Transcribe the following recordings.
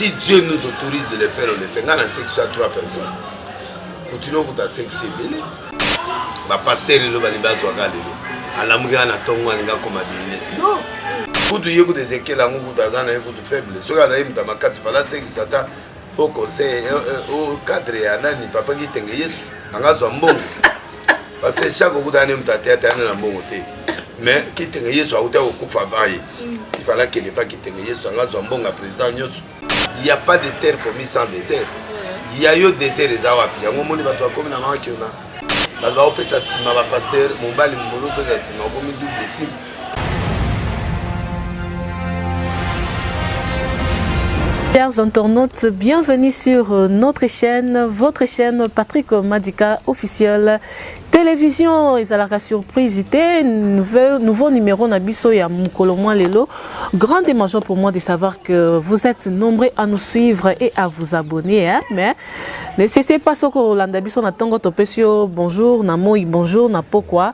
si dieu nous autorise de le faire on le fait ngai na sexe ya trois personnes kutino okuta sexe ebele bapastere lelo balingi bazwaka lelo alamuki nga na ntongo alingi akoma business non kutu ye kutu ezekiel yango kutu aza na ye kutu faible soki azali moto ya makasi fala sekisa ata o conseil o cadre ya nani papa kitenge yesu anga azwa mbongo parce que chaque okuta ne moto ateya teya na mbongo te mais kitenge yesu akuta kokufa baye ifala kende pa kitenge yesu anga zwa mbonga président nyonso ya pas de terre promis sans désert ya yo désert eza wapi yango omoni bato bakomi na makiona bato bakopesa nsima bapaster mobali mobali opesa nsima okomi double sime Chers internautes, bienvenue sur euh, notre chaîne, votre chaîne Patrick Madika officielle. Télévision ezalaka surprise te nouveau, nouveau numéro na biso ya mukolo mwa lelo. Grande émotion pour moi de savoir que vous êtes nombreux à nous suivre et à vous abonner hein? mais ne cessez pas soko olanda biso na tongo topesi yo bonjour na moi bonjour na pokwa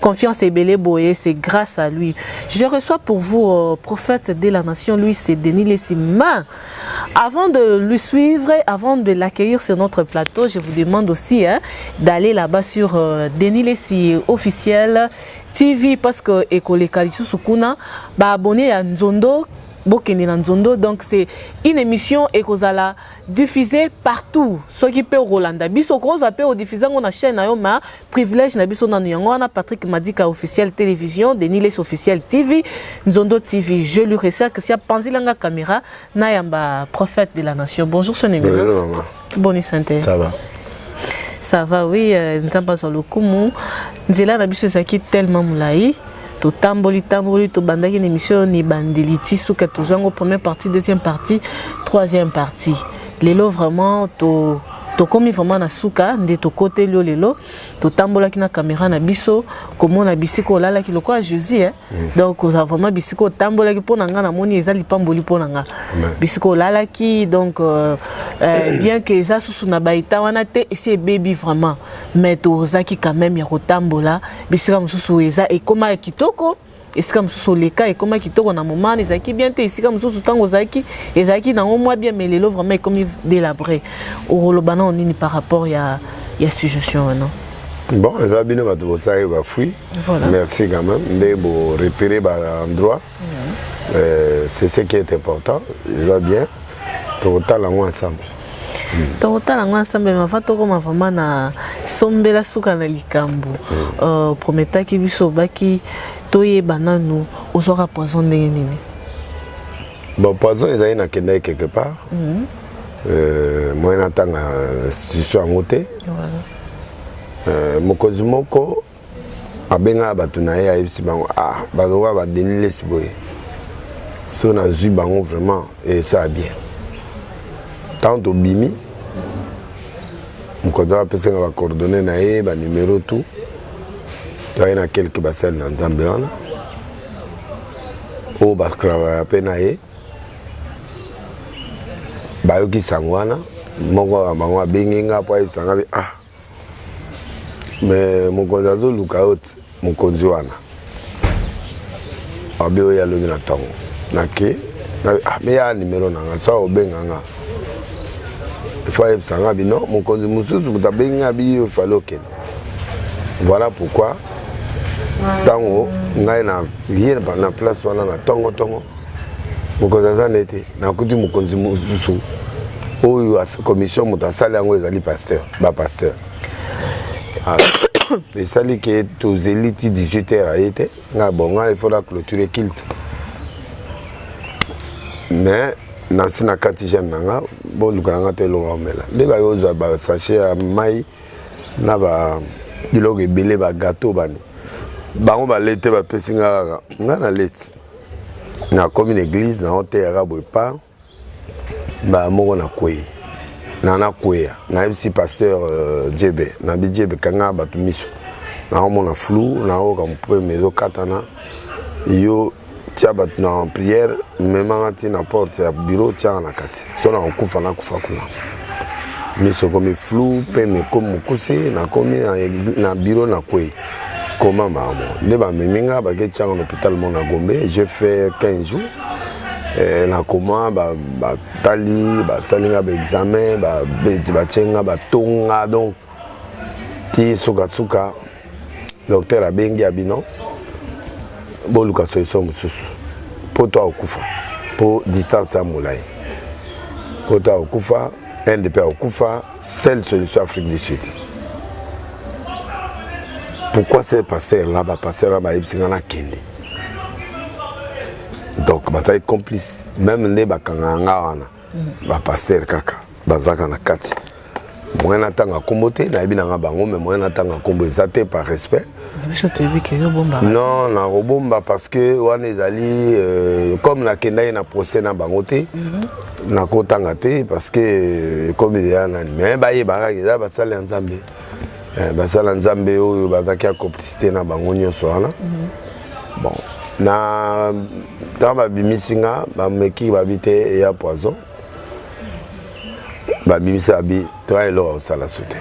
Confiance Ebele Boye, c'est grâce à lui. Je reçois pour vous, euh, prophète de la nation, lui, c'est Denis Lessi. Mais, avant de lui suivre, avant de l'accueillir sur notre plateau, je vous demande aussi hein, d'aller là-bas sur euh, Denis Lessi officiel TV, parce que Ekole Kalisu Sukuna, bah, abonné à Nzondo, bokende na nzondo donc c'est une émission ekozala diffusée partout soki mpe okolanda biso okozwa mpe odiffuze yango na chaîne na yo ma privilège na biso nanu yango wana Patrick Madika officiel télévision Denis Les officiel TV Nzondo TV je lui resserre que si apanzila nga caméra na yamba prophète de la nation bonjour son éminence bonjour bonne santé ça va ça va oui euh, nzambe azwa lokumu nzela na biso ezalaki tellement molai totamboli tamboli tobandaki na émission ni bandeli ti suka tozwa yango première partie deuxième partie troisième partie lelo vraiment to tokomi vraiment na suka nde tokoteli yo lelo totambolaki na kamera na biso komona bisika olalaki lokola jésus eh? mm. donc oza vraiment bisika otambolaki mpo na ngai namoni eza lipamboli mpo na ngai bisika olalaki donc euh, euh, bien que eza susu na baeta wana te esi ebebi vraiment mais tozaki quand même ya kotambola bisika mosusu eza ekoma ya kitoko esika mosusu oleka ekoma kitoko na moment wana ezalaki bien te esika mosusu ntango ozalaki ezalaki nango mwa bien mais lelo vraiment ekomi délabré okoloba nao nini par rapport ya, ya suggestion wana bon eza bino bato bosali bafui voilà. merci quand même nde borepere baendroit mm -hmm. euh, c'est ce qui est important eza bien tokotala yango ensemble Hmm. tokotala yango ensemble mais avant tokoma vraiment na sombela suka na likambo hmm. euh, prometaki biso obaki toyeba nanu ozwaka poison ndenge nini bon poison ezali nakendaki quelque part hmm. euh, moyen natanga institution yango te euh, mokonzi moko abengaka bato na ye ayebisi bango ah baloba badeni lesi boye so nazwi bango vraiment esala bien ntango tobimi mokonzi wana apesi nga bacoordonne na ye banumero tout toyaki na quelque basali na nzambe wana oyo batravaillaka mpe na ye bayoki sango wana moko ya bango abengi nga mpo ayebisa nga ah mais mokonzi azoluka yo te mokonzi wana abe oyo alobi na ntongo nake ah, meya nimero na nga sa obenga nga ifo ayebisa nga bino mokonzi mosusu moto abengi nga biyo efali okende voilà pourquoi ntango ngai na ye na place wana na ntongo ntongo mokonzi aza ne te nakuti mokonzi mosusu oyo commission moto asali yango ezali pasteur bapasteur ah, esali ke tozeli ti 18 heure aye te ngai bon ngai ifo na clôture kilte mais nasi na kati jeune na nga boluka na nga te eloko omela nde baye ozwa basachet ya mai na biloko ebele bagateau bani bango balete bapesi nga kaka nga naleti na komi na eglise na oteyaka boye pa mbala moko na kwei na nakweya nayebisi pasteur uh, jebe nabi jebe kanga bato miso naomona flou naoyoka mopeme ezokatana yo tia bato na priere memanga ti na porte ya biro tiaka na kati so nakokufa nakufa kuna miso ekomi flou mpe mekomi mokuse nakomi na biro na kwei Comment maman Nde ba memi nga ba ke tianga na hôpital mon na Gombe, j'ai fait 15 jours. Eh, na koma batali ba basali nga baexamen batye nga batonga donc ti sukasuka docteur abengi ya bino boluka solution mosusu mpo to akokufa mpo distance ya molai mpo to akokufa inde mpe akokufa Seule solution Afrique du Sud. Pourquoi ces pasteurs là, bas pasteurs là, bas yebisina na kende. Donc bazali complice même nde bakanga nga wana mm. ba pasteur kaka bazaka na kati. Moyen natanga kombo te nayebi nanga bango mais moyen natanga kombo eza te par respect. biso toyebi ke yo bomba non nakobomba parce que wana ezali euh, comme nakendaki na procès na bango te mhm. nakotanga te parce que euh, ekomi deya nani mais bayebaka eza basali ya nzambe euh, basali ya nzambe oyo bazalaki ya complicité na bango nyonso wana mhm. bon na ntango babimisi nga bameki babi te eya poison babimisi abi toya eloko akosala su te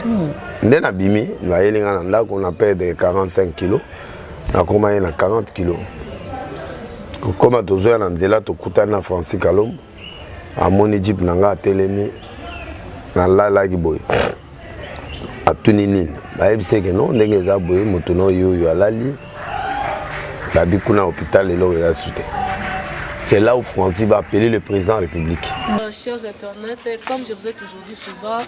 nde nabimi nayeli ngai na ndako na perdre 45 kilo nakoma ye na 40 kilo kokoma tozoya na nzela tokutani na francis kalombo amoni jipe na ngai atelemi nalalaki boye atuni nini bayebisi eke no ndenge eza boye moto na oyo oyo alali babi kuna hôpital eloko eza su te c'est là où francis va appeler le président république euh, souvent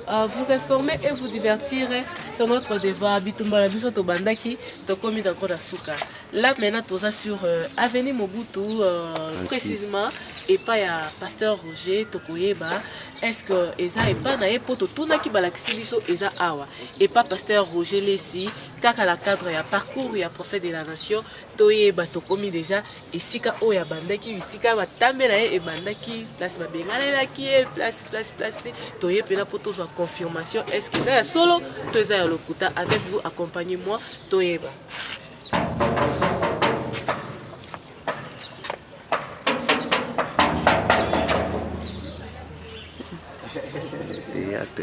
uh, vous informer et vous divertir sur notre devoir bitumba na biso tobandaki tokomi danko na suka là maintenant toza sur euh, avenue mobutu euh, précisément epai ya pasteur roger tokoyeba est-ce que eza epai na ye mpo totunaki balakisi biso eza awa epai pasteur roger lesi kaka na cadre ya parcours ya prophète de la nation toyeba tokomi déjà esika oyo abandaki bisika matambe na ye ebandaki place babenganelaki ye place place place toye mpena mpo tozwa confirmation estce eza ya solo to eza ya lokuta avec vous accompagne moi toyeba théâtre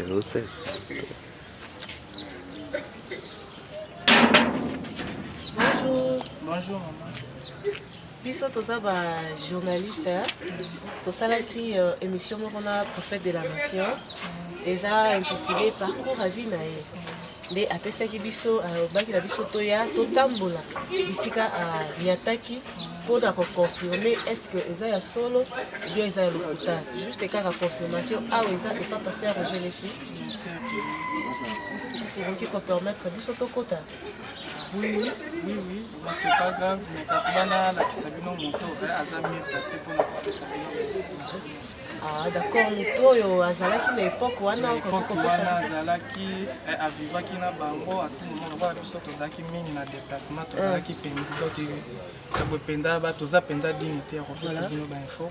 Bonjour. Bonjour maman. biso toza bajournaliste hein. tosalaki euh, émission moko na prophète de la nation eza intitulé parcours à vie na ye nde apesaki biso alobaki euh, na biso toya totambola bisika anyataki euh, mpo na koconfirme est ce que eza ya solo bien eza ya lokuta juste kaka confirmation awa eza epa paster rogelesi okoki kopermettre biso tokota oui oui oui oui ma c'est pas grave mais kasi bana alakisa bino moto eh, aza mieux placé mpona kopesa bino bainformation nyonso Ah, d'accord moto oyo azalaki na epoke wana epoke wana azalaki eh, avivaki na bango atumoma lokola biso tozalaki mingi na déplacement tozalaki ah. mpenza toza mpenza dini te ya kopesa bino bainfo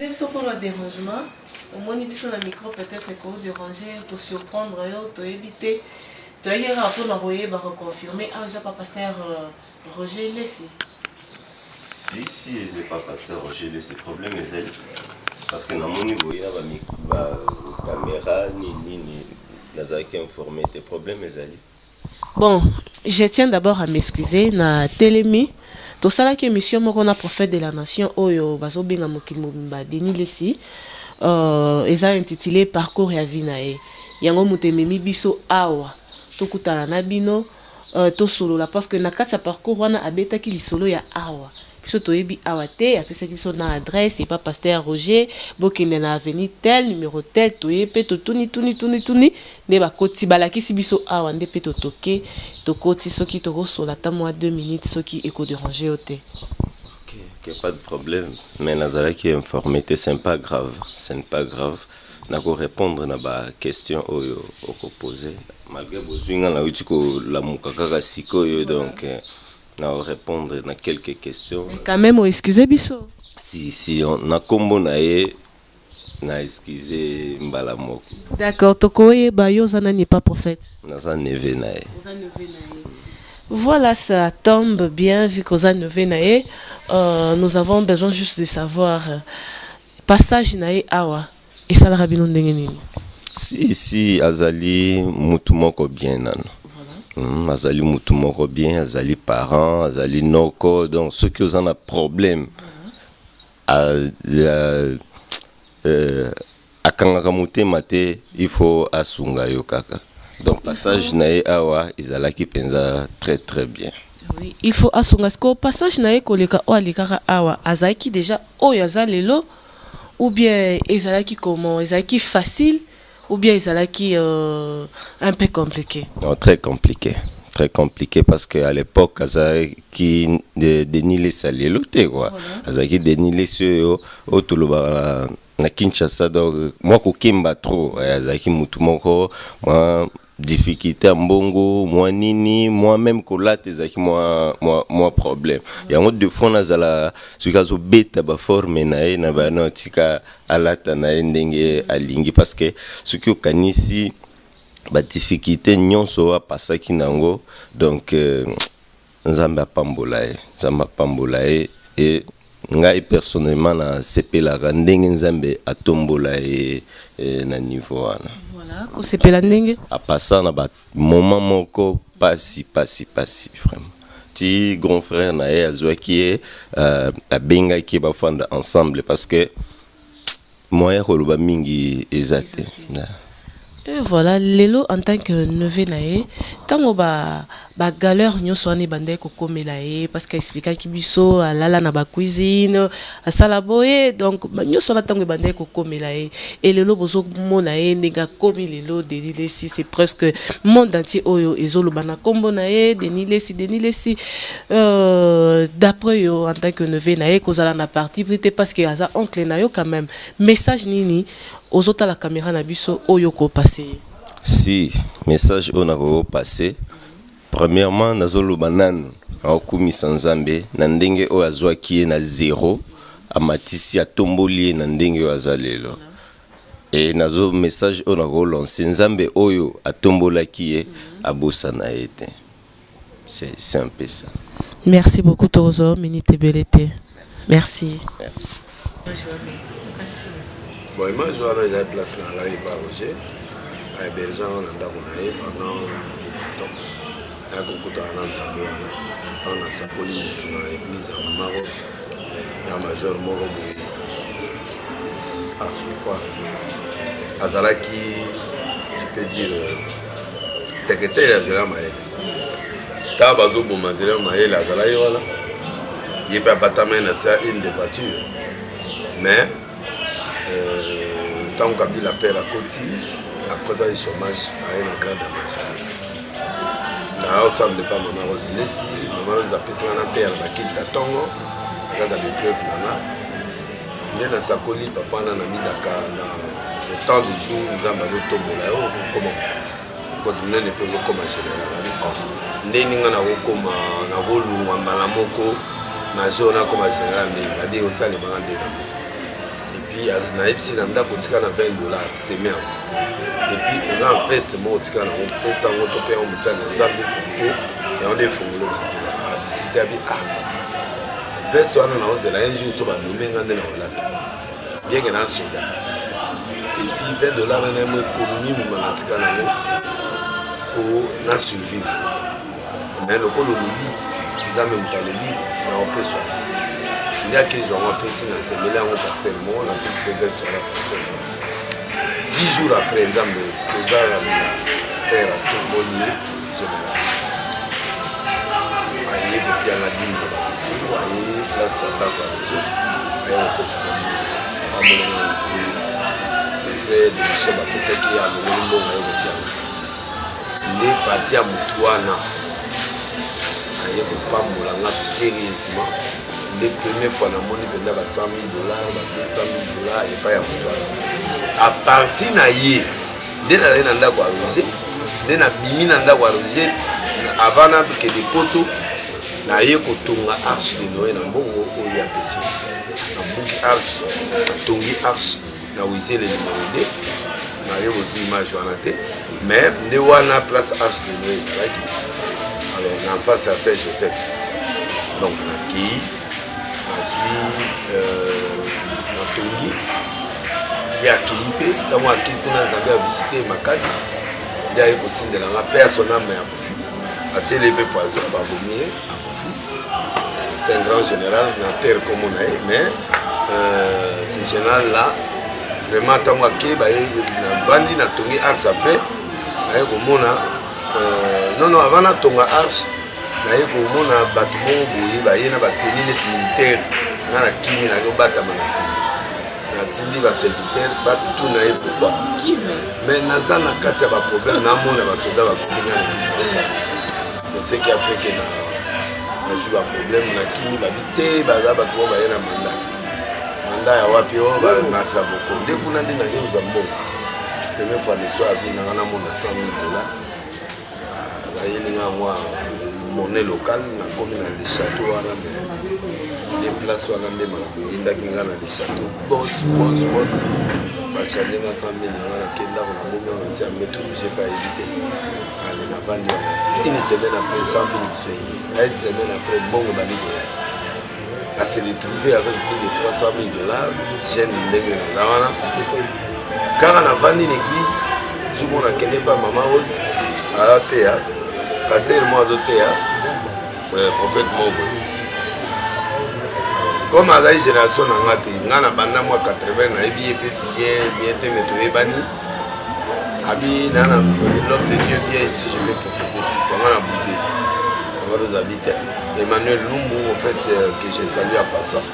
Excusez biso pona derangement, omoni biso na micro peut etre ko deranger yo, to surprendre yo, toyebi te. Toyaki kaka pona koyeba ko confirmer awa eza pa pasteur euh, Roger Lesi. Si si eza pa pasteur Roger Lesi, problème ezali parce que namoni boye na ba mic- ba camera nini nini nazalaki informé te, problème ezali. Bon, je tiens d'abord à m'excuser na telemi tosalaki émission moko na prophète de la nation oyo bazobenga mokili mobimba Denis Lessi euh, eza intitulé parcours ya vie na ye yango moto ememi biso awa tokutana na bino euh, tosolola parce que na kati ya parcours wana abetaki lisolo ya awa biso toyebi awa te apesaki biso na adresse epa pasteur roger bokende na avenue tel numero tel toye mpe totuni tuni tuni tuni Nde bakoti balakisi biso awa nde pe totoke tokoti soki toko sola ata mua deux minutes soki eko deranger yo te. Ok ok pas de problème mais nazalaki informe te ce n'est pas grave ce n'est pas grave nako repondre na ba question oyo oko pose malgre bozui nga nawuti ko lamuka kaka sikoyo donc nao repondre na quelques question. Mais quand meme o excuse biso. Si si na kombo na ye. Na excuse ye mbala moko. D'accord toko yeba yo oza nani epa prophète? Naza neveu na ye. Oza neveu na ye. Voilà ça tombe bien vu que oza neveu na ye nous avons besoin juste de savoir passage na ye awa esalaka bino ndenge nini? Si si azali mutu moko bien nanu. Hum azali mutu moko bien azali parent azali noko donc soki oza na problème a, a, euh, akangaka motema te il faut asunga yo kaka donc passage na ye awa ezalaki mpenza très très bien oui, il faut asunga sikoyo passage na ye koleka oyo alekaka awa azalaki déjà oyo aza lelo ou bien ezalaki comment ezalaki facile Ou bien ezalaki euh, un peu compliqué? Non, très compliqué. très compliqué parce que à l'époque azalaki denis lesi ya lelo te kua azalaki denis lesi oyo oyo tolobaka na kinshasa donc mwa kokemba trop eh, azalaki motu moko mwa difficulte ya mbongo mwa nini mwa meme kolata ezalaki mwa, mwa, mwa problème yango de fois nazala soki azobeta baforme na ye na bana otika alata na ye ndenge alingi parce que soki okanisi badifficulte nyonso oyo apasaki na yango donc euh, Nzambe apambola ye nzambe apambola ye e ngai personnellement na sepelaka ndenge nzambe atombola ye e, na niveau wana voilà kosepela ndenge apasa na ba moment moko pasi pasi pasi vraiment ti grand frère na ye azwaki ye euh, abengaki ye bafanda ensemble parce que Moyen ya koloba mingi eza te. Et voilà, Lelo en tant que neveu na ye, tango ba ba galère nyonso wana ebandaki kokomela ye parce que explikaki biso alala na ba cuisine, asala boye donc ba nyonso wana tango ebandaki kokomela ye et lelo bozo mona ye ndenge akomi lelo Denis Lessi c'est presque monde entier oyo ezoloba na kombo na ye Denis Lessi, Denis Lessi. Euh, d'après yo en tant que neveu na ye kozala na parti pris te parce que aza oncle na yo quand même message nini ozotala caméra na biso oyo ko passer si message oyo nakoki passe premièrement nazoloba nanu aokumisa nzambe na ndenge oyo azwaki ye na zero amatisi atomboli ye na ndenge oyo aza lelo e nazo message oyo nakolance nzambe oyo atombolaki ye abosana ye te C'est un peu ça. Merci beaucoup Tozo, minute ebele te. Merci. Merci. Bon, image wana eza place na ngai pa Roger. Aberge anga na ndako na ye pendant temps. Nakokutana na Nzambe wana. Awa nasakoli motu na église ya Mama Rose. Ya major moko boye. Asufa. Azalaki, je peux dire, secretaire ya zela mayele ntango bazoboma zela mayele azala ye wana ye mpe abatamai na se ya une de voiture mais euh, ntango kabila pere akoti akotaki chômage aye na grade ya maja na ensemble epa mama rose lesi mama rose apesaka na pere bakilta ntongo akata bepreuve nanga nde nasakoli papa na namidaka na autant de jour nzambe azotombola yo okokoma mokonzi monene mpe okokoma général abi oh, ndeni ngai nakokoma nakolungwa mbala moko na jour nakoma général ndenge abi osalemaka nde na moko epuis nayebisi na ndako otika na 20 dollar semer epuis oza na veste moko otika nango pesa yango to mpe yango mosali na nzambe parce que yango nde efungolo banzela adisite abi ah Veste wana naozela un jour so banome nga nde nakolata bien ke naa soda epuis 20 dollar na naye mo ekonomi moma natika nango po na survivre mais lokola olobi nzambe moto alobi naopeswa nde akezwa yango apesi na semele yango paster moko na pesi mpe veste wana paster moko 10 jours après nzambe kozala na terre atomboli ye general aye kopianga dini na bato aye place ya ndako ya rezo aye kopesa bamolongo ya ntini frère de mission bapesaki alongoli mbongo aye kopianga nde pati ya motu wana aye kopambola nga serieusement nde première fois namoni mpenza basami dollars bapesami dollars epai ya moto wana apartir na ye nde nazali na ndako ya rose nde nabimi na ndako ya rose avant nakende poto naye kotonga arche de noe na mbongo oyo apesi nabuki arche natongi arche na wize le numero 2 naye bozwi image wana te mais nde wana place arche de noe ezalaki alors na face ya saint joseph donc nakei nazwi euh, natongi ye akei mpe ntango akei kuna nzambe avisite makasi nde aye kotindela nga personne ame akufi atiele mpe poison babomi ye C'est un grand général, na terre comme on est, mais euh, ce général-là, vraiment, tant que je bandi na tongi arts après, je komona, euh, non, non, avant na tonga arts, naye komona bato moko boye baye na bateni neti militaire nga na kimi naye obatama na nsima natindi baserviteur batuna ye pourkoi mais naza na kati ya baproblème namona basoda bakotenga na Seki afeke na nazwi ba problème na kimi babi te baza bato oyo baye na manda manda ya wapi oyo bamarsa boko nde kuna nde naye ozwa mbongo première fois na histoire ya vie nanga namona 100 000 dollars ah, bayeli nga mwa monnaie locale nakomi na le château wana mais nde place wana nde makambo eyindaki nga na le château bos bos bos bachange nga 100 000 nanga nake ndako na bomi wana nsi ya mbeto jepa yebi te Allez, na vandi wana. Une semaine après, 100 000 bisoyi. Une semaine après, bongo bandi koya. À se retrouver avec plus de 300 000 dollars, jeune ndenge na nga wana. Kaka na vandi na église, jour mona kende pa mama Rose, aza teya, pasteur mo azo teya, euh, prophète mo boye. comme azali génération na nga te nga na banda mwa 80 nayebi ye mpe bien bien te me toyebani abi nana l'homme de dieu vient ici je vais profiter sur toi nga na boude nga tozali te emmanuel lumbu au fait euh, que je salue en passant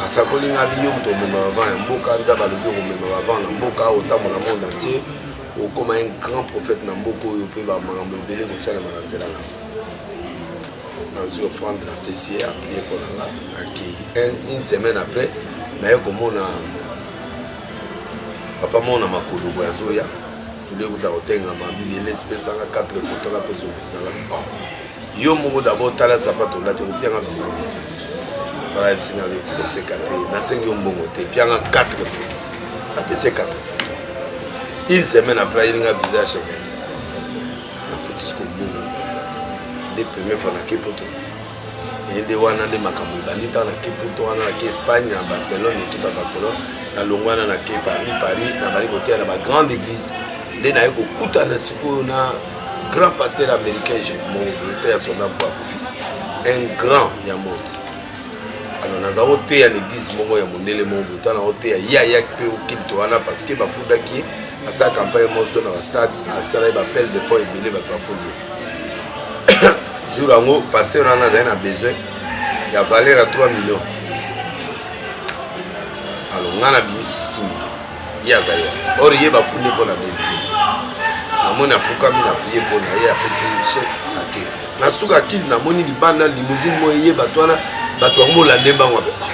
asakoli nga bi yo moto omema avant ya mboka nzambe alobi okomema avant na mboka otambola monde entier okoma un grand prophète na mboka oyo mpe bamakambo ebele kosalema na nzela na nazwi offrande na pesi ye aprie mpo na nga akei une semaine après naye komona papa mona makolo boye azoya soli ekuta kotengama bilele esipesaka 4 foto kapesa ofisala yo moko dabord tala sapato olati kopianga bilenge balayebisina koseka te nasengi yo mbongo te pianga 4 foto apese 4 foto une semaine après ayelinga visa ya chemin nafutisi kombongo nde premier fois nake poto ye nde wana nde makambo ebandi ntango nake poto wana nake espagne na barcelone ekipe ya barcelone nalongwana nake paris paris nabali koteya na bagrande église nde naye kokutana sikoyo na grand pasteur américain juif moko boye mpe ya sonda mpo akufi un grand ya monde alors naza koteya na église moko ya mondele moko boye ntango nakoteya ye ayaki mpe okilto wana parce que bafundaki ye asala campagne moso na bastade asala ye bapele de fond ebele bato bafundi ye jour yango pasteur wana azali na besoin ya valeur ya 3 million alo nga na bimisi 6 million ye azali wana or ye bafundi mpo na 2 million namoni afukami na prie mpo na ye apesi chèque ake na suka kili namoni libanda limousine moye ye bato wana bato yango molande mbango abe ah,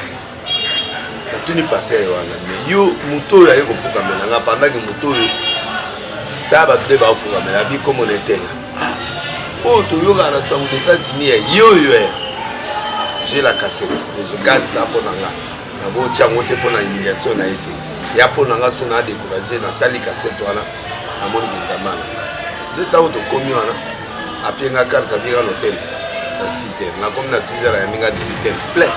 natuni pasere wana me yo moto oyo aye kofukamela nga pandaki moto oyo ta bato nde baofukamela abi komona etela oyo toyokaka na sango na états-unis ya yoyo eh. je la cassette deje garde sa mpo na nga nakotya yango te mpo na humiliation na ye te ya mpo na nga so na décourage natali cassette wana namoni benzamana nde ntango tokomi wana apie nga carte apie nga l'hôtel na 6 heures nakomi na 6 heures ayambi nga 18 heures plein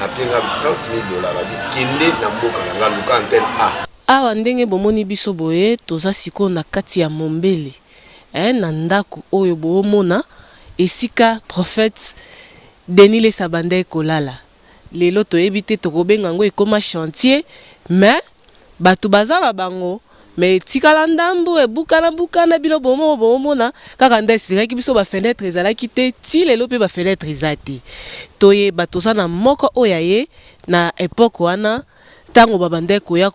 apie nga 30 000 dollars abi kende na mboka na nga luka antenne a awa ndenge bomoni biso boye toza sikoyo na kati ya mombele eh, na ndako oyo boomona esika prophète denis lesabanda ekolala Lelo toyebi te tokobenga yango ekoma chantier mais batu baza na bango mais etikala ndambu ebukana bukana bino bomoko bomona kaka nde explikaki biso ba fenetre ezalaki te ti lelo pe ba fenetre eza te toyeba toza na moko oyo aye na epoque wana tango babandaki koya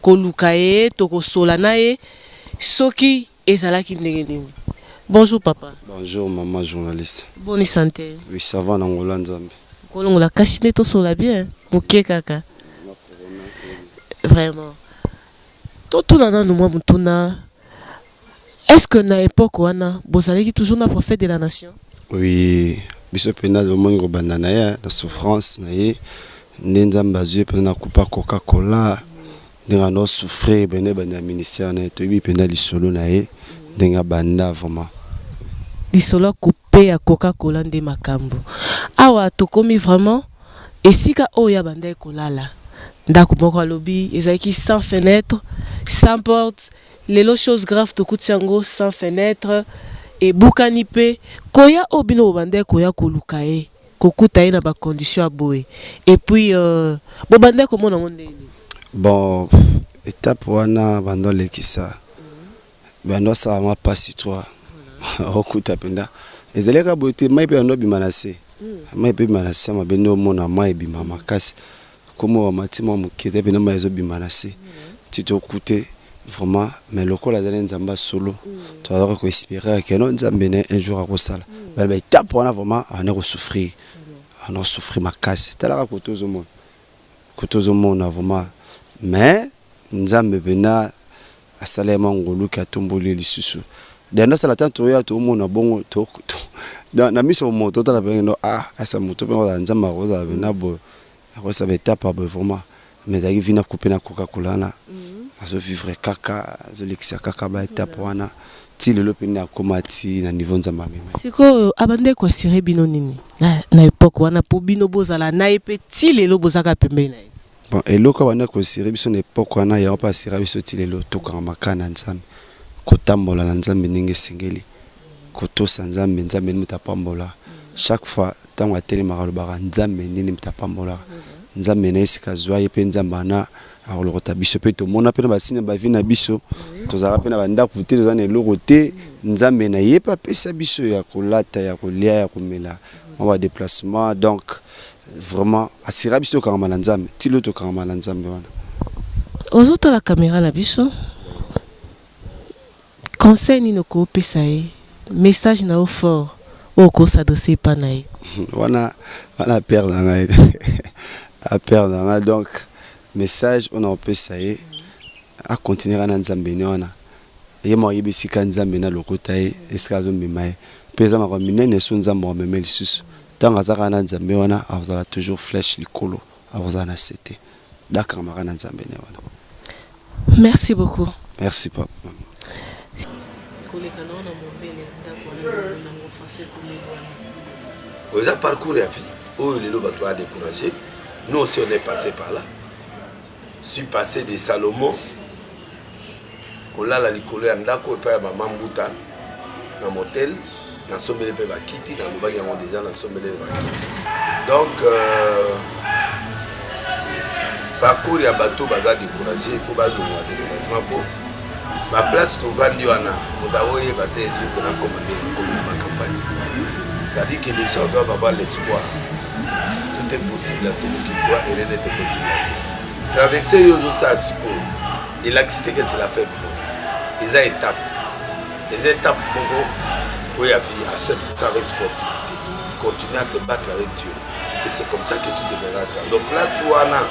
koluka ye tokosola na ye soki Ezalaki ndenge nini? Bonjour papa. Bonjour maman journaliste. Boni sante? Oui ça va na ngola nzambe. Kolongola kashi nde tosola bien moke kaka. Vraiment. Totuna nanu mwa motuna. Est-ce que na epoque wana bozalaki toujours na prophète de la nation? Oui, biso pena lomoni kobanda na ye na souffrance na ye nde nzambe azwi ye pena na kupa coca cola ndenge ano souffrir bende bende ya ministère na ye toyebi mpenza lisolo na ye ndenge abanda vraiment lisolo akupe ya coca cola nde makambo awa tokomi vraiment esika oyo abandaki kolala ndako moko alobi ezalaki sans fenêtre sans porte lelo chose grave tokuti yango sans fenêtre ebukani mpe koya oyo bino bobandaki koya koluka ye kokuta ye na ba conditions ya boye et puis euh, bo bandaki komona yango ndenge nini? Bon etape wana bando alekisa bando asala mwa pasi trois okuta mpenza ezali kaka boye te mai mpe bando abima na se hmm. mai mpe ebima na se mabe nde omona mai ebima makasi Kombo ya mati mwa moke te pena mai ezobima na se ti tokute vraiment mais lokola azali nzambe ya solo tozalaka koespere ke no nzambe ne un jour akosala bana baetape wana vraiment abanda kosouffrir abanda kosouffrir makasi talaka kote ozomona kote ozomona vraiment mais Nzambe pena asala ye mwa ngolu ke atomboli ye lisusu. Dea nde asala tan toya tomona bongo to na na miso moto totala pena no ah asa moto pena kozala Nzambe akozala pena boye akozala ba etape ya boye vraiment mais ezalaki vie na coupe na Coca Cola wana nazo vivre kaka azolekisa kaka ba etape wana ti lelo pena nakoma ti na niveau Nzambe amema. Sikoyo abandaki ko assurer bino nini na na epoque wana po bino bozala na ye pe ti lelo boza kaka pembeni na ye? Bon, eloko abanda kosire biso na epoque wana yango mpe asira biso ti lelo tokanga makana ya nzambe kotambola na nzambe ndenge esengeli kotosa nzambe nzambe nini moto apambola chaque fois ntango atelemaka alobaka nzambe nini moto apambolaka nzambe na esika azwa ye mpe nzambe wana akolokota biso mpe tomona mpe na basini ya bavi na biso tozalaka mpe na bandako te toza na eloko te nzambe na ye mpe apesa biso ya kolata ya kolia ya komela mwa ba déplacement donc vraiment asira biso tokangama na nzambe ti lelo tokangama na nzambe wana ozotala kamera na biso conseil nini okopesa ye message na yo fort oyo okosadresse epa na ye wana wana apere na ngai apere na ngai donc message oyo nakopesa ye akontinuera na nzambe ni wana Ye moko ayebi esika Nzambe na lokota ye, esika azo mema ye. Pe eza makambo ya minene soki Nzambe ako mema ye lisusu. Tango aza kaka na Nzambe wana akozala toujours flèche likolo, akozala na se te. Donc akangama kaka na Nzambe naye wana. Merci beaucoup. Merci papa. Koleka na yo na mobele ndako wana elongo na ngo façon ekomi wana. Oyo eza parcours ya vie oyo lelo batu ba decourager. Nous aussi on est passe par là. suis passé de salomon kolala likolo ya ndako epai ya mama mbuta na motel nasombeli mpe bakiti nalobaki yango deja nasombeleli bakiti donc euh, parcours ya bato baza découragé il faut balongwa découragement mpo ba place tovandi wana moto akoyeba te ezoki nakoma nde nakomi na bacampagne cestadire que les gens doivent avoir l'espoir tout est possible à celui qui croit et rien n'était possible à dire traverse yo ozosala sikoyo elakisi te kese la fin du monde eza étape eza étape moko oyo ya vie accepte sa responsabilité continue à te battre avec dieu et c'est comme ça que tu deviendras grand donc place wana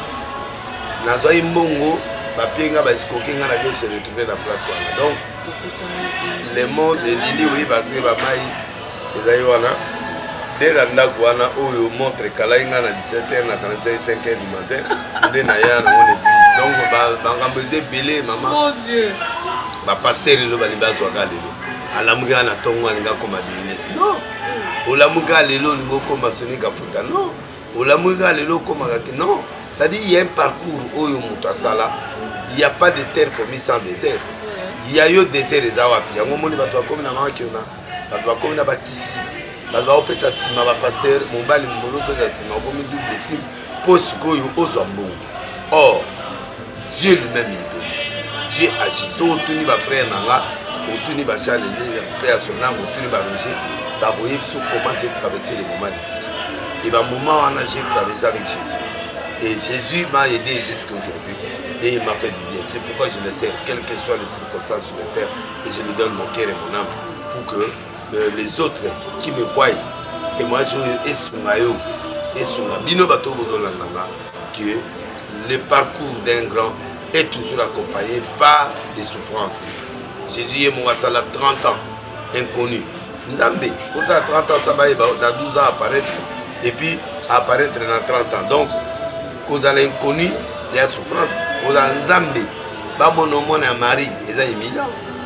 nazwaki mbongo bapie nga baescoke nga nazo se retrouve na place wana donc le monde elindi oyeba se bamai ezali wana nde na ndako wana oyo montre ekalaki nga na 17 heure na 45 5 heure du matin nde naya nango na eglise donc bangambo eza ebele mama bapaster lelo balingi bazwaka lelo alamuki nga na ntongo alingi akoma denis non olamuki nga lelo olingi okoma soni kafuta non olamuki kaka lelo okomaka ke non c'est-à-dire ya un parcours oyo moto asala ya pas de terre promis sans désert ya yo désert eza wapi yango omoni bato bakomi na makiona bato bakomi na bakisi bato bakopesa nsima bapaster mobali mobali opesa nsima okomi double sime mpo sikoyo ozwa mbongo or dieu lui-même il donne dieu agit soki otuni bafrère na nga otuni bacharle lele mpe ya sonango otuni barouge bakoyebi biso comment j'ai traversé les moments difficiles et bamoment wana j'ai traversé avec jésus et jésus m'a aidé jusqu'aujourd'hui et il m'a fait du bien c'est pourquoi je le sers quelles que soient les circonstances je le sers et je lui donne mon cœur et mon âme pour que euh, les autres qui me voient témoignage oyo esunga yo esunga bino bato bozolanda nga que le parcours d'un grand est toujours accompagné par des souffrances jésus ye moko asala 30 ans inconnu nzambe ozala 30 ans sabayeba na 12 ans apparaître et puis apparaître na 30 ans donc kozala inconnu ya souffrance kozala nzambe bamona omona ya marie eza éminent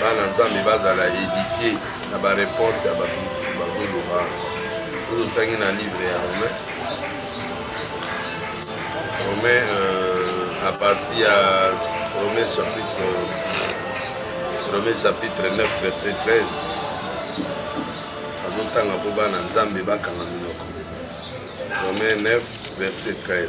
bana nzambe bazala edifie na bareponse ya bato mosusu bazoloba soki otangi na livre ya romain romain euh, à partir ya romain chapitre romain chapitre 9 verset 13 azotanga mpo bana nzambe bakanga minoko romain 9 verset 13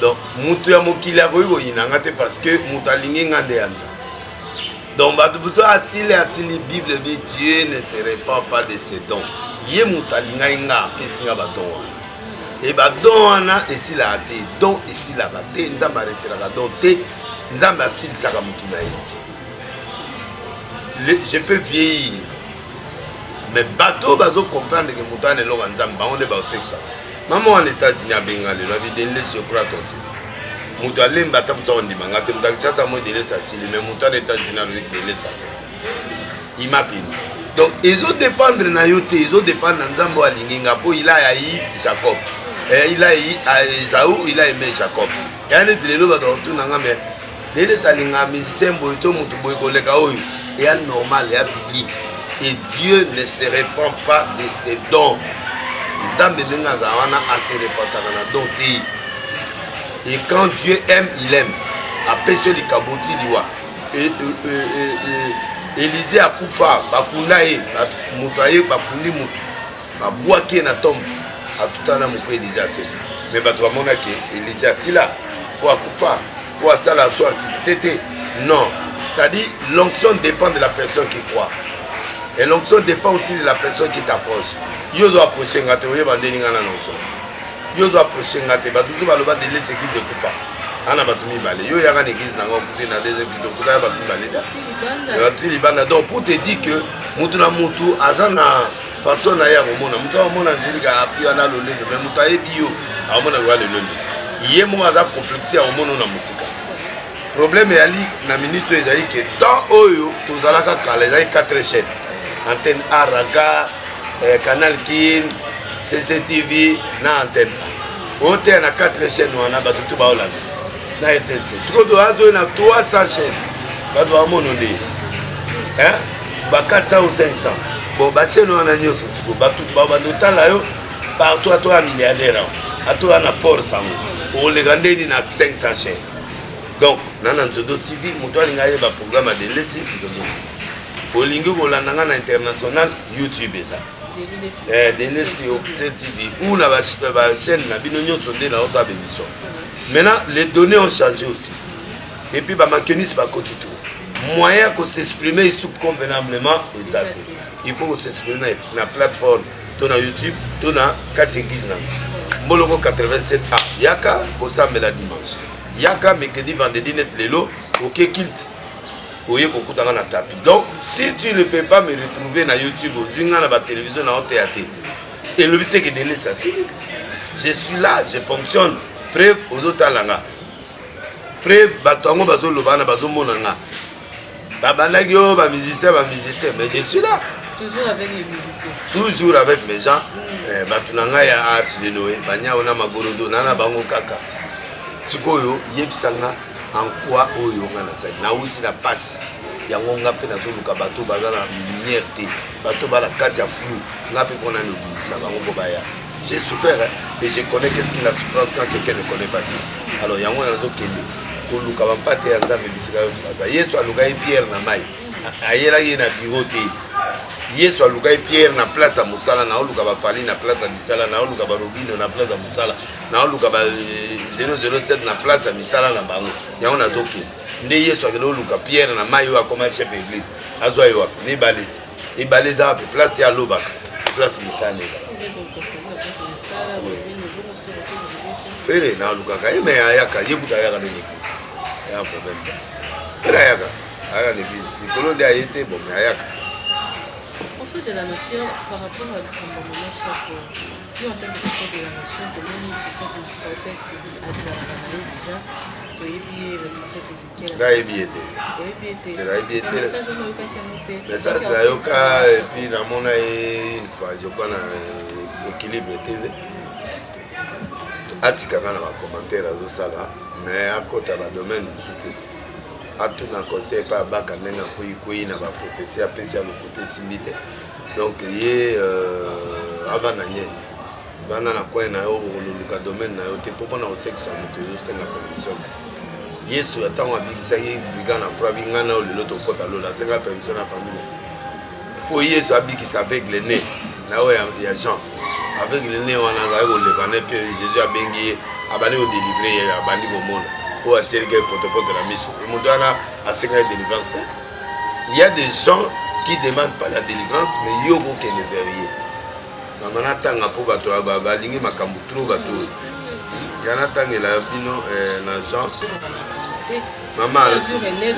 donc moto ya mokili akoki koyina nga te parce que moto alingi nga nde ya nzambe donc bato mosusu asili asili bible bi dieu ne se repand pas de ses dons ye moto alingaki nga apesi nga badon wana e badon wana esilaka te don esilaka te nzambe aretiraka don te nzambe asilisaka motu na ye te je peux vieillir mais bato oyo bazocomprendre ke moto wana eloko ya nzambe bango nde baosekisaka mama wana etats-unis abenga lelo abi denles je crois ton dieu moto alemba ata mosa kondima nga te moto akisasa moi denles asili mais moto ana etats-unis alobi denles asili ima peni donc ezodépendre na yo te ezodépendre na nzambe oyo alingi nga mpo ila ayai jacob eh, ila ayai esau ila aime jacob eya neti lelo bato bakotuna nga mais Dennis alinga musicien boye to moto boye koleka oyo eya normal eya public et dieu ne se repand pas de ses dons nzambe ndenge azala wana ase repantaka na don te et quand dieu aime il aime apesi yo likambo ti liwa elize akufa bakunda ye moto aye bakundi motu babwaki ye na tombe atutana na moku elize aseli me bato bamonaki elize asila mpo akufa mpo asala so activité te non c'est-à-dire l'onction dépend de la personne qui croit et l'onction dépend aussi de la personne qui t'approche yo ozo approche nga te oyeba ndeni nga na l'onction yo ozo approche nga te bato ozo baloba de les église ekufa ana bato mibale yo yaka na église nanga okute na deuxième kito okuta ya bato mibale te bato libanda donc pour te dire que motu na motu aza na façon na ye akomona moto akomona angelique afi wana lolendo mais moto ayebi yo akomona koya lolendo ye moko aza complexe akomona na mosika problème eyali na minute oyo ezali ke temps oyo tozalaka kala ezali 4 chaîne antenne a raga eh, canal kin cctv na antenne a oteya na 4 chaîne wana bato to baolanda na etense sikoyo to azoi na 300 chaine bato bamono nde ba 400 ou 500 bon bachene wana nyonso sikoyo bato babanda otala yo partout ato ya milliardaire yango ato ya na force yango okoleka ndeni na 500 chaine donc na na nzodo tv moto alinga ayeba programme ya delesi nzodo olingi kolanda ngai na international youtube eza eh, dele si officiel tv ou na bachaîne na bino nyonso nde naoza bemission maintenant les données ont changé aussi et puis bamakenis bakoti tout moyen ya kosexprime isu convenablement eza te il faut kosexprime na plateforme to na youtube to na kati eglise nango mboloko 87 a yaka kosambela dimanche yaka mercredi vendredi net lelo oke kilte oye kokuta nga na tapi donc si tu ne peux pas me retrouver na youtube ozwi nga na batelevizio na oteya te elobi te ke denis asili je suis là je fonctionne preuve ozotala nga preuve bato yango bazoloba wana bazomona nga babandaki oyo bamusicien bamusicien mais je suis là toujours avec les musiciens toujours avec mes gens mm. eh, bato na ngai ya arche de noe banyao na magorodo na na bango kaka sikoyo yebisa nga en quoi oyo nga nazali nauti na pasi yango nga mpe nazoluka bato baza na lumière te bato bala kati ya flou nga mpe mpona nobimisa bango mpo baya j'ai souffert hein, et je connais qu'est-ce que la souffrance quand quelqu'un ne connaît pas Dieu alors yango wana nazokende koluka bampate ya nzambe bisika nyonso baza yesu alukaki pierre na mai ayelaki ye na biro te yesu alukaki pierre na place ya mosala naoluka bafali na place ya misala naoluka barobino na place ya mosala naoluka ba 007 na place ya misala na bango yango nazokende nde yesu akende oluka pierre na mai oyo akoma chef ya église azwa ye wapi mibale te mibale eza wapi place ye alobaka place mosala na ezala fere nalukaka ye me ayaka ye kuta ayaka na église ya problème te fere ayaka ayaka na église likolo nde aye te bon me ayaka prophète de la nation par rapport à likambo mama soko Yo en tant que chef de la nation, tomoni prophète mosusu auta azalaka na ye déjà toyebi ye le prophète Ezekiel. Nayebi ye te. Oyebi ye te. Nayebi ye te. Message wana oyokaki yango te. Message nayoka et puis namona ye une fois je crois na euh, équilibre TV. atikaka na bacommentaire azosala mais akota badomaine mosusu te atuna conseil epai abaka ndenge akweikwei na baprophesie apesi ya lokuta esimbi te donc ye euh, ava na nye vanda na coin na yo okoluka domaine na yo te mpo mpona kosekisa moto ezosenga permission yesu ya ntango abikisaki briga na pro abi ngai na yo lelo tokota lola asenga permission na famille mpo yesu abikisa aveugle ne na oyo ya jean aveugle ne wana azali koleka ne mpe jésus abengi ye abandi kodelivre ye abandi komona oyo atielike potopoto na miso moto wana asengaki delivrance te il y a des gens qui demandent pas la délivrance mais yo okokende vers ye nanga natanga mpo bato balingi makambo tro bato oyo nga natangela bino eh, na jean mama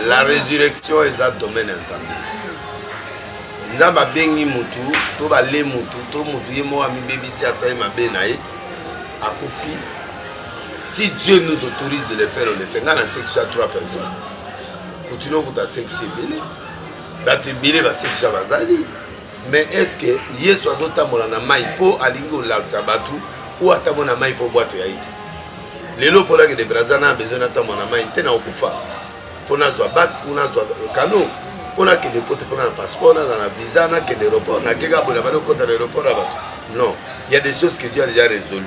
la résurrection eza domaine ya nzambe nzambe abengi motu to bale motu to motu ye moko amibebisi asali mabe na ye akufi si dieu nous autorise de le faire on le fait nga na sexe ya trois personnes continue okuta sexe ebele bato ebele basekisa bazali mais est ce que yesu azotambola na mai mpo alingi kolakisa bato oyo atambo na mai mpo bwato ya ye te lelo mpo nakende braza na besoin natambo na mai te nakokufa mpo nazwa bak u nazwa kano mpo nakende mpo te mpo na na passeport naza na visa nakende aéroport nakeka boye na bana okota na aéroport ya bato non il y a des choses que dieu a déjà résolu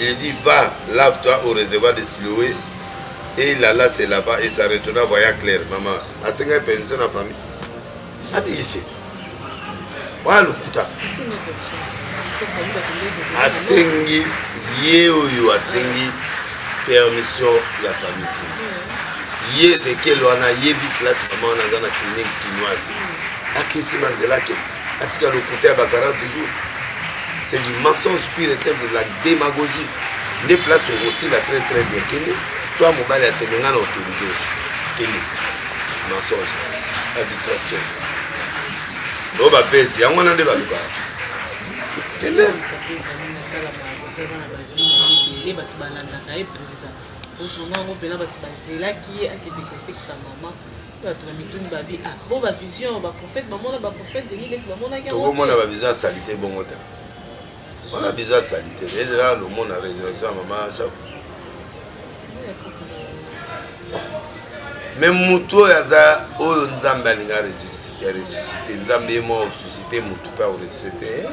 Il dit va, lave-toi au réservoir de Siloé. Et il alla se lava et ça retourna voyant clair. Maman, asengaki permission na famille. Abikisi. Oya lokuta. Asengi ye oyo asengi permission ya famille te. Ye Ezekiel wana ayebi place maman wana aza na clinique kinoise. Akisi manzela akende. atika lokuta ya ba 40 jours c'est du mensonge pire et simple de la démagogie nde place okosila très très bien kende soit mobali ya tembe ngai na autorise oso kende mensonge la distraction oyo bapesi yango wana nde balukaka kende bato balandaka ye mpenza ozonga yango mpena bato bazelaki ye akende kosekisa mama bato na mituni babi ah, bo ba vision ba prophète bamona ba prophète denis lesi bamonaki tokomona ba visa salite bongo te wana visa salite ezela lomona résurrection ya mama jacques me motu oyo aza oyo nzambe alinga ressuscite nzambe ye moko osusite motu mpe akoressusite eh?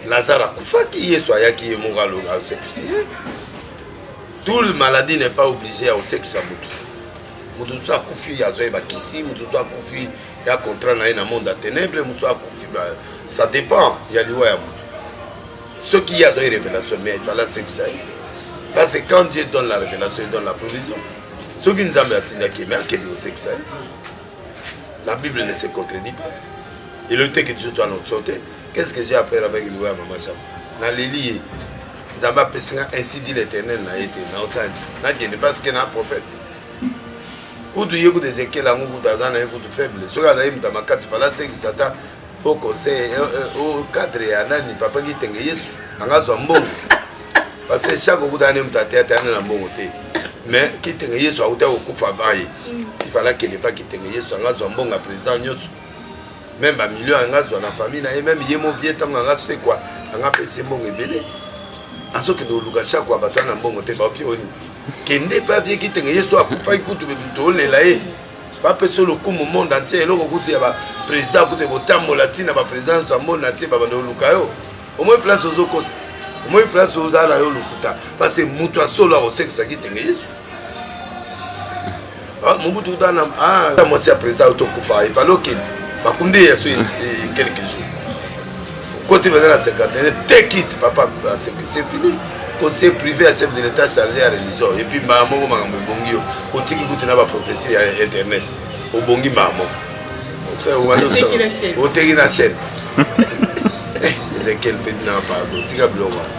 lazare akufaki yesu ayaki ye moko asekisi ye tout le maladie n'est pas obligé ya kosekisa motu moto mosusu akufi azwa ye bakisi moto mosusu akufi ya contrat na ye na monde ya ténèbre mosusu akufi ça dépend ya liwa ya moto soki ye azwa ye révélation mais efala asekisa ye parce que quand dieu donne la révélation il donne la provision soki nzambe atindaki ye mais akende kosekisa ye la bible ne se contredit pas elobi te ke biso to anonction te qu'est ce que j'ai à faire avec liwa ya mama cham naleli ye nzambe apesi nga ainsi dit l'éternel na ye te naosani nakende parce que na prophète kutu ye kutu ezekiel yango kutu aza na ye kutu faible soki azali moto ya makasi fala sekisa ata o conseil eh, eh, o cadre ya nani papa kitenge yesu anga azwa mbongo parce que chaque okuta ne moto ateya teya na mbongo te mais kitenge yesu akuta kokufa baye ifala kende pa kitenge yesu anga azwa mbongo ya président nyonso meme bamilio yanga azwa na famille na ye meme ye mo vie ntango yanga sekwa yanga apesi ye mbongo ebele azokende koluka sakwa bato wana na mbongo te baopi oni kende mpe avie kitenge yesu akufaki kutu moto olela ye bapesa lokumu monde entier eloko kutu ya baprésident kutu ekotambola ntina baprésident nyonso ya monde entier babanda koluka yo omoi place ozokosa omoi place ozala na yo lokuta parce moto ya solo akosekisa kitenge yesu Ah, mobutu kuta na ah, mwasi ya président otokufa efali okende bakundi ye yaso quelque jour okoti baza na cinquantaine te kite papa c'est fini conseil privé ya chef de l'état chargé ya religion epuis mbaa moko makambo ebongi yo otiki kutu na baprofesi ya internet obongi mbaa moko oteki na chaîne ezekiel mpe dina pardon tika biloko wana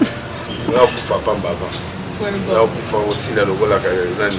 oyakufa pamba avant oyakufa osila lokolaka nani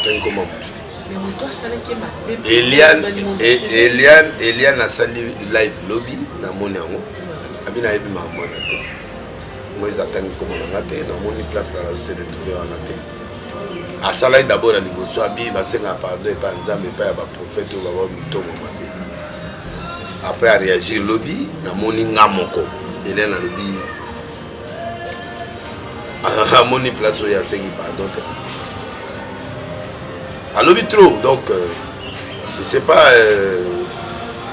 atangi koma moto eliane eliane asali live lobi namoni yango abi nayebi makambo wana te moise atangi koma na nga te namoni place na nazo se retrouve wana te asalaki dabord ya liboso abi basenga pardon epai ya nzambe epai ya baprofete oyo baba mitongoma te après areagir lobi namoni nga moko eliane alobi amoni place oyo asengi pardon te alobi trop donc euh, je sais pas euh,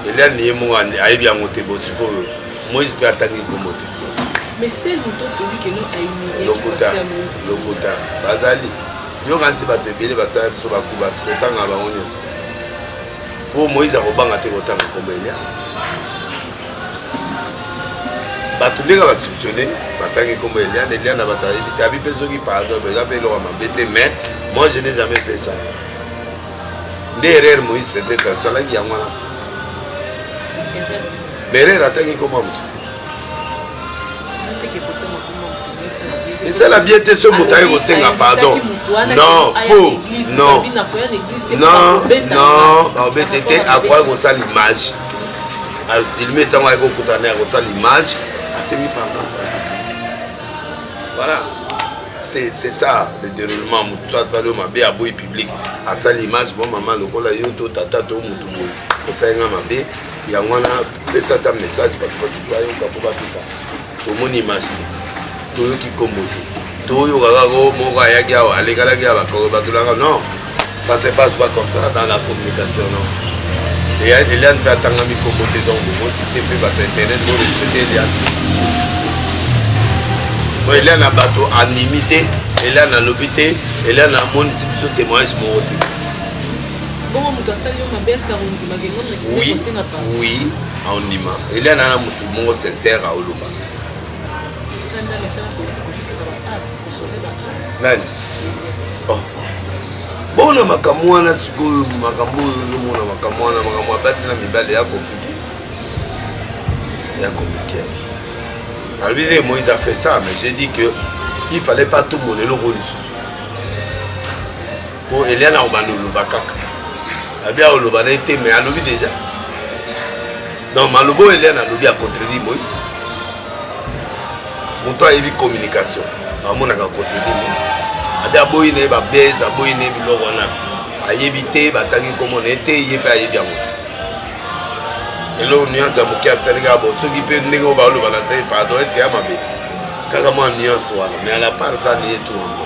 eliane ye moko ayebi yango te bo sikoyo moïse mpe atangi nkombo te lokuta lokuta bazali yokanisi bato ebele basala biso bakuba totanga bango nyonso oyo moïse akobanga te kotanga nkombo elia bato ndenge basolutionne batangi nkombo elia na elia na bato abitabi mpe soki pardon eza mpe eloko mabe te mais moi je n'ai jamais fait ça nde erreur moïse peut-être asalaki yango wana mais erreur atangi nkombo ya moto esala bien te so moto aye kosenga pardon non faux non non non baobete te akoya kosala image afilme ntango aye kokutana ya kosala image asengi pardon voilà c'est ça le déroulement motu so asali yo mabe aboyi public asali image bon mama lokola yo to tata to motu boye osali nga mabe yango wana pesa ata message bato basusu bayoka mpo bapika tomoni image te toyoki nkombo te toyoka kaka o moko ayaki awa alekalaki ya bakoko batolaka non ça se passe pas comme ça dans la communication non eliane mpe atangami nkombo te donc bokosite mpe bato internet borespecte eliane po eliane na bato andimi te eliane alobi te eliane amonisi biso témoignage moko te bongo moto asali yo mabe eske akondima ke ngai moki kosenga pa oui aondima elia na na moto moko sincere aoloba kanda mesala kokokisa ba a kosove ba a nani oh. bona makambo wana sikoyo makambo oyo ozomona makambo wana makambo abati na mibale ya komplike ya komplike alobi te moïse a fait ça mais j'ai dit que il fallait pas tout mon eloko lisusu po eliane akobanda oloba kaka abi aoloba na ye te mais alobi déjà donc maloba oyo eliane alobi ya contredire moïse moto ayebi communication amonaka contredire moïse abi aboyi na ye babese aboyi na ye biloko wana ayebi te batangi komona ye te ye mpe ayebi yango te eloko nuance ya moke asali kaka bo soki mpe ndenge oyo baoloba na sai pardon eske ya mabe kaka mwa nuance wana mais à la part ça niye tout yango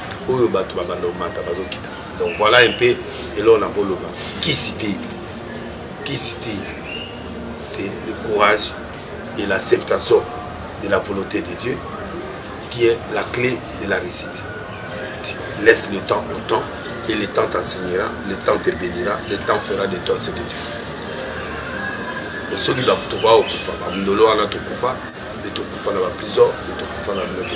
oyo bato babanda komata bazokita donc voilà un peu eloko nakoloba kisi te kisi te c'est le courage et l'acceptation de la volonté de dieu qui est la clé de la réussite laisse le temps au temps et le temps t'enseignera le temps te bénira le temps fera de toi ce que tu veux soki bato baokufa bamundolo wana tokufa nde tokufa na baprison nde tokufa na biloko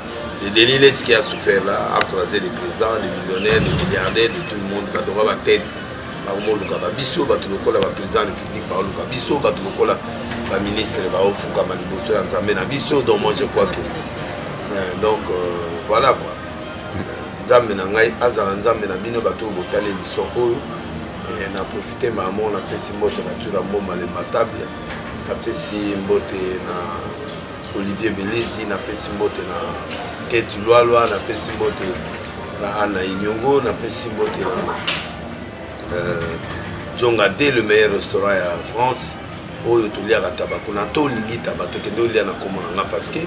le delile ce qui a souffert là a croisé les présidents les millionnaires les milliardaires de tout le monde bato ba batete bakomolukaka biso bato lokola baprésident république baoluka biso bato lokola baministre baofukama liboso ya nzambe na biso donc moi je vois que euh, donc euh, voilà quoi euh, nzambe na ngai azala nzambe na bino bato oyo botali émission oyo na profite mamo napesi mbote na tura mboma le matable napesi mbote na Olivier Belezi na pesi mbote na Kate Lwalwa na pesi mbote na Anna Inyongo na pesi mbote na euh, Jonga de le meilleur restaurant ya France oyo toliaka taba kuna to olingi taba tokende olia na komo na nga parce que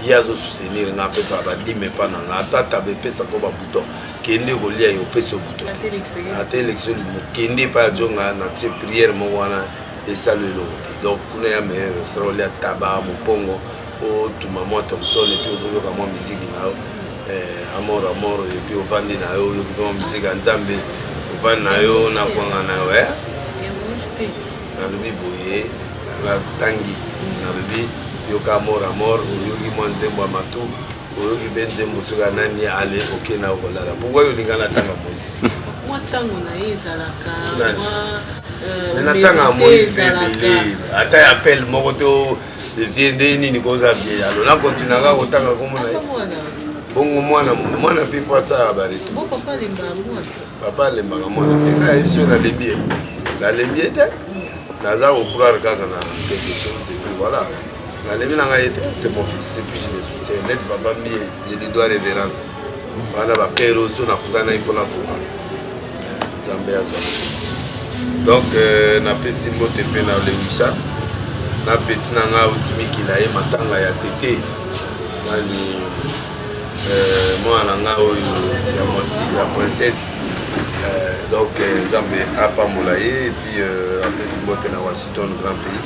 ye azo soutenir nga apesaka badime epa na nga ata taba epesa ko babouton kende kolia ye opesi yo bouton te ata election limo kende epai ya jonga na tie priere moko wana esalo eloko te donc kuna ya meilleur restaurant olia taba mopongo otuma mwa thomson epuis ozoyoka mwa miziki na yo eh, amor amor epuis ovandi na yo oyoki mwa miziki ya nzambe ovandi na yo na kwanga na yo eh? nalobi boye natangi nalobi yoka amor amor oyoki mwa nzembo ya matu oyoki mpe nzembo soki ya nani ale oke na okolala pourkoi olinga na tanga moise mwa ntango na ye ezalaka me na tanga moise mpe ebele ata ya pele moko to vie nde nini koza vie yalo na kontina kaka kotanga komona ye bongo mwana mwana mpe po asala baretu papa alembaka mwana mpe ngai biso nalembi ye nalembi ye te naza kocroire kaka na quelque chose epuis voilà nalembi na ngai ete c'est mon fils et puis je le soutiens net papa mbie je lui dois révérence wana bapere oso nakutana ifo nafuka nzambe azwa donc euh, napesi mbote mpe na lewisha na peti na ngai auti mikila ye matanga ya tete nani euh, mwana na ngai oyo ya mwasi ya princesse euh, donc nzambe apambola ye epuis apesi mbote na washington grand pays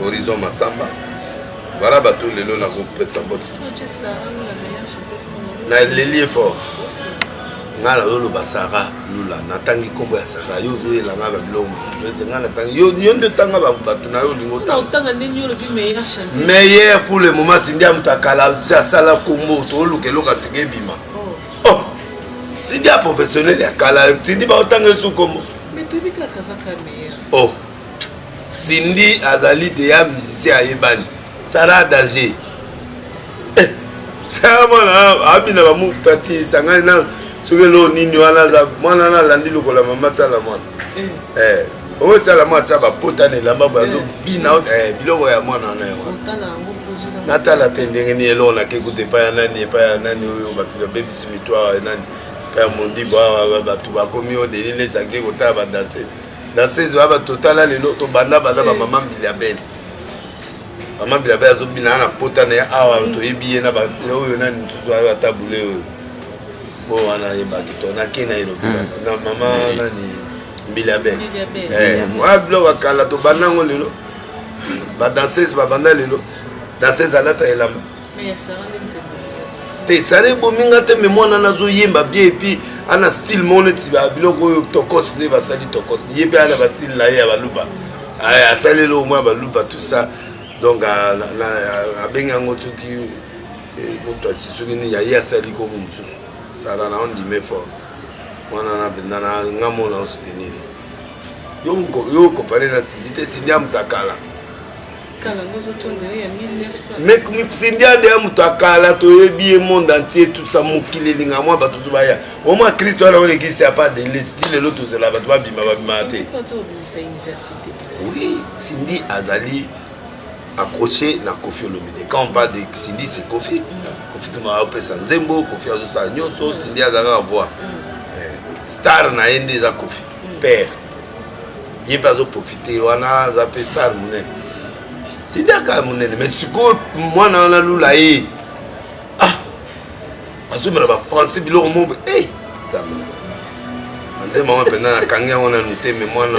Horizon Massamba. Voilà bato lelo na kopesa mbote. Na leli effort. nga nazoloba sara lula natangi nkombo ya sara yo ozoyela nga na biloko mosusu eze nga natangi yo nde otanga bato na yo olingi otanga meilleur pour le moment sindi ya moto akala asala nkombo tooluka eloko asika ebima oh. oh. sindi ya professionnel ya kala sindi baotanga esu nkombo oh. cindy azali deya musicien ayebani sara danger eh, sara mwana abina bamuta te esangani na soki eloo nini wana aza mwana wana alandi lokola mama tsala mwana eh. eh, oyo tsala mwana tsa bapota na elamba boye azobina eh. biloko ya mwana wana yango natala te ndenge nini eloko nake kuta epai ya nani epai ya nani oyo bato babebisi mitware nani epai ya mondimbo awa bato bakomi oyo delilesake kotala badanses na 16 baba totala lelo tobanda banda ba mama mbiliabele mama mbiliabele azobina na pota na ye awa toyebi ye na oyo nani mosusu ayo ata bule oyo po wana ayebaki to nake na elobi na mama nani mbiliabele wana biloko ya kala tobanda yango lelo badanseuse babanda lelo danseuse alata elamba te sara ebomi nga te me mwana na azoyemba bien epuis ana style moko neti biloko oyo tokos nde basali tokos ye mpe ana bastyle na ye ya baluba asali eloko moko ya baluba tout ça donc abengi yango soki eh, moto asi soki nini ya ye asali komo mosusu sara na ondime fort mwana na mpenza na nga mona osutenir yo okopare na sidi te sidi amutakala misindiade ya moto akala toyebi ye monde entier tusa mokili elinga mwa bato to baya omwa kristo wana wana existe ya pas de lesti lelo tozela bato babima babimaka te oui sindi azali accroché na kofi olomide quand on parle de sindi c'est kofi mm. kofi tumaka opesa nzembo kofi azosala nyonso sindi azalaka voix mm. eh, star na ye nde eza kofi père ye mpe azoprofite wana aza mpe star monene sidaka monene mais sikoyo mwana wana lula ye ah azomela bafrançais biloko moko e eh, zamina anzemama mpenza nakangi yango nanu te me mwana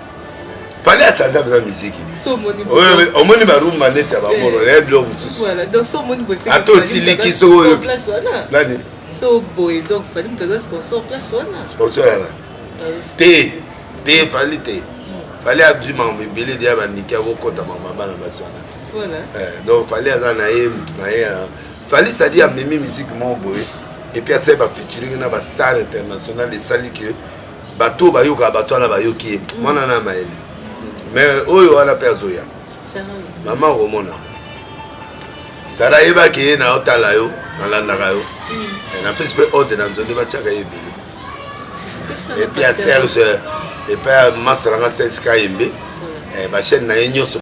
fali asanda mpenza miziki omoni barumba neti ya bamoro eh. naye biloko mosusu ata osiliki soki oyo nani sponsor yana te te fali te hmm. fali adui makambo ebele deya bandiki akokota makambo bana basi wana eh, donc fali aza na ye motu na ye fali sadi amemi miziki moko boye epuis asali bafeaturing na bastar international esali ke bato oyo bayokaka bato wana bayoki ye mm. mwana na mayele me oyo wana mpe azoya mama okomona sara ayebaki ye na otala yo nalandaka yo mm. eh, napesi mpe ode na nzondi batiaka ye ebele epuis ya serge epai ya master yanga serge kayembe eh, bachaine na ye nyonso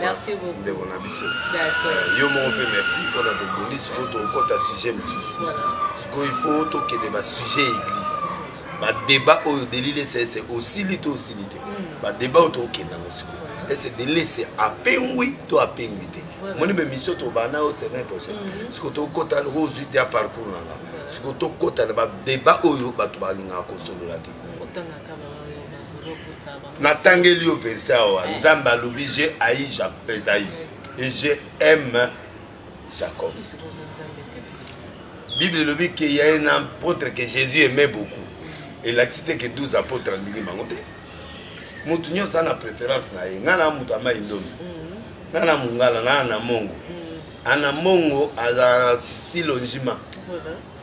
merci beaucoup ndeko na biso euh, yo moko mpe merci mpona tobongi sikoyo tokokɔta sujet mosusu sikoyo il faut tokende basujet ya église badébat oyo delile esese osili to osili te mm. badébat oyo tokokenda yango sikoyo ese delile ese apengwi to apengwi te omoni mpe misio tobanda oyo semaine prochaine mm-hmm. sikoyo tokɔta loko ozwi te ya parcours na nga sikoyo tokɔta na badébat oyo bato balingaka kosolola te natangeli yo verse awa eh. nzambe alobi je ai ezai e je aime jacob bible elobi ke ya un apôtre que jésus aimait beaucoup elakisi te ke 12 apôtre andimi bango te motu nyonso aza na préférence na ye ngai na moto ama indomi mm. ngai na mongala ngai na mongo mm. ana mongo azala na style onjima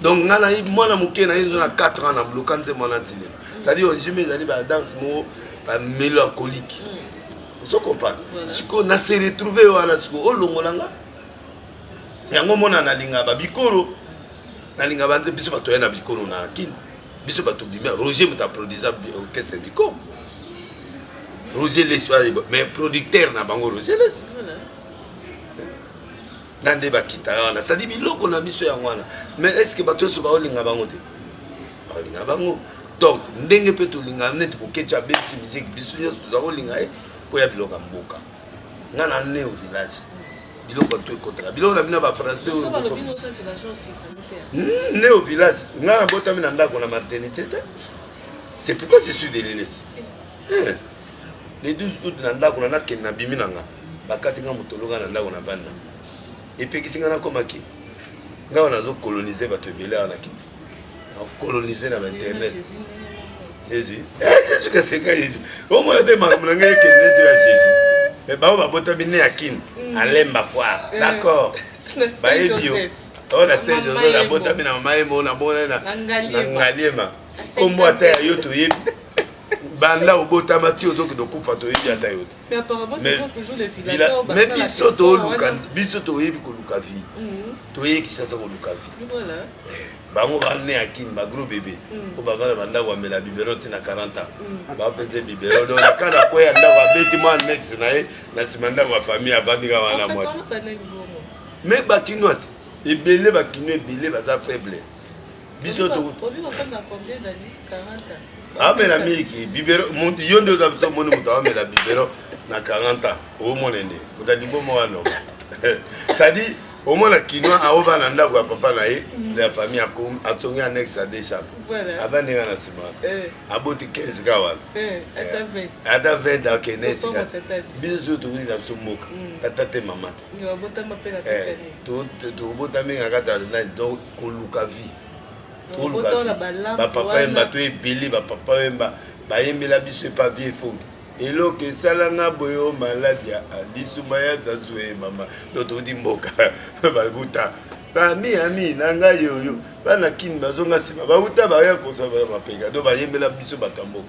donc nga nayi mwana moke naye ezo na 4 ans na bloka nzembo wana tile cestadire ojimi ezali badanse moko bamélancolique mm. ozo comprendre sikoyo na se retrouve yo wana sikoyo olongola nga yango mona nalinga babikolo nalinga banze biso bato ya na bikolo na kini biso bato bimi roger moto aprodisa orchestre bikolo roger lesi mais producteur na bango roger lesi na nde bakitaka wana cetadi biloko na biso yango wana mais est ce que bato nyonso baolinga bango te baolinga bango donc ndenge mpe tolingana neti koketya abeti miziki biso nyonso toza kolinga ye mpo ya biloko ya mboka nga na ne au village biloko to ekotaka biloko na bino ya bafrançais hmm, ne au village nga nabotami na ndako na maternité te c'est pourquoi je suis delilesi eh. eh. le 12 août na ndako na nakende na bimi na nga bakati nga motolo nga na ndako na banda epekisi nga nakomaki nga wana nazo colonise bato ebele awa na kende colonise na bainternet jésus eh, jésus kasenga yesu omona te makambo na ngai ekende to ya jésus eh, bango babotami ne ya kini mm. alemba foire eh. d'accord bayebi yo oyo na saint joseph nabotami na mama yemo namona na ngaliema kombo ata ya yo toyebi banda obotama ti ozokende okufa toyebi ata yo teme biso toluka biso toyebi koluka vie mhm. toyei kisasa koluka vie eh, bango bane ya kini bagro bebe mhm. po bavanda bandako bamela bibero ti na 40 ans mhm. bapese bibero do naka na kwe ya ndako abeti mwa nexe na ye na nsima ndako ya famille avandika wana mwasi me bakinois te ebele bakinois ebele baza faible biso amela miliki bibero yo nde oza biso omoni moto amela bibero na 40 ans omona nde ota liboma wana cetadi omona kinois aoba na ndako ya papa na ye mm. ya famille atongi annexe ya deux chambre avandi nga na nsima eh. aboti 15 ka wana eh, eh, ata 20 akende esika biso soki tokolisa biso mboka mm. tata te mama te eh, tobotami na kati ya nani donc koluka vie toluka bapapa yemba to ebele bapapa yemba bayembela biso epa vie efongi eloko esala nga boye o maladi ya lisuma ya zazue mama do toudi mboka bakuta ami ami na ngai oyo bana kini bazonga nsima bauta baya kozwa mapeka do bayembela biso bakamboka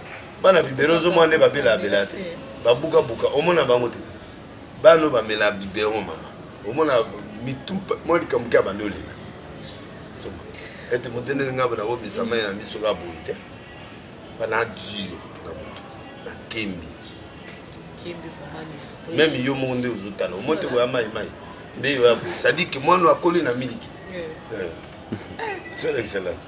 bana bibero ozomona nde babela abela te babuka buka omona bango te bano bamela bibero mama omona mitu mwa likambo ke abandi olela ete motendeli ngai bona komisama ye na miso ka boye te bana dure na moto na kembi meme yo moko nde ozotala omoi te koya mai mai nde yo ya boye sadike mwana akoli na miliki eh. eh. solexcellence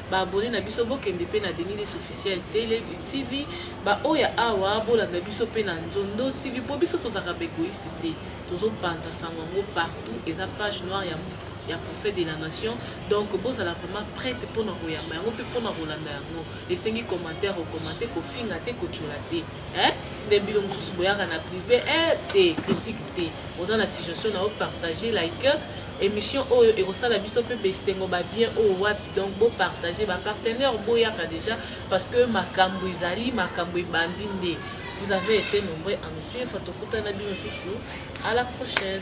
Ba abonnes na biso bokende pe na Denis Lessi officiel tele TV, ba oyo ya awa bolanda biso pe na Nzondo TV po biso tozalaka ba egoïste te, tozo panza sango yango partout, eza page noire ya ya prophète de la nation donc bozala vraiment prête mpona koyamba yango mpe mpona kolanda yango esengi commentaire okomante kofinga te kotyola te eh? nde bino mosusu boyaka na privé eh, te critique te oza na suggestion na yo partage like émission oyo ekosala biso mpe besengo babien oyo wapi donc bo partager ba partenaire boyaka déjà parce que makambo ezali makambo ebandi nde vous avez été nombreux à nous suivre tokutana bino susu à la prochaine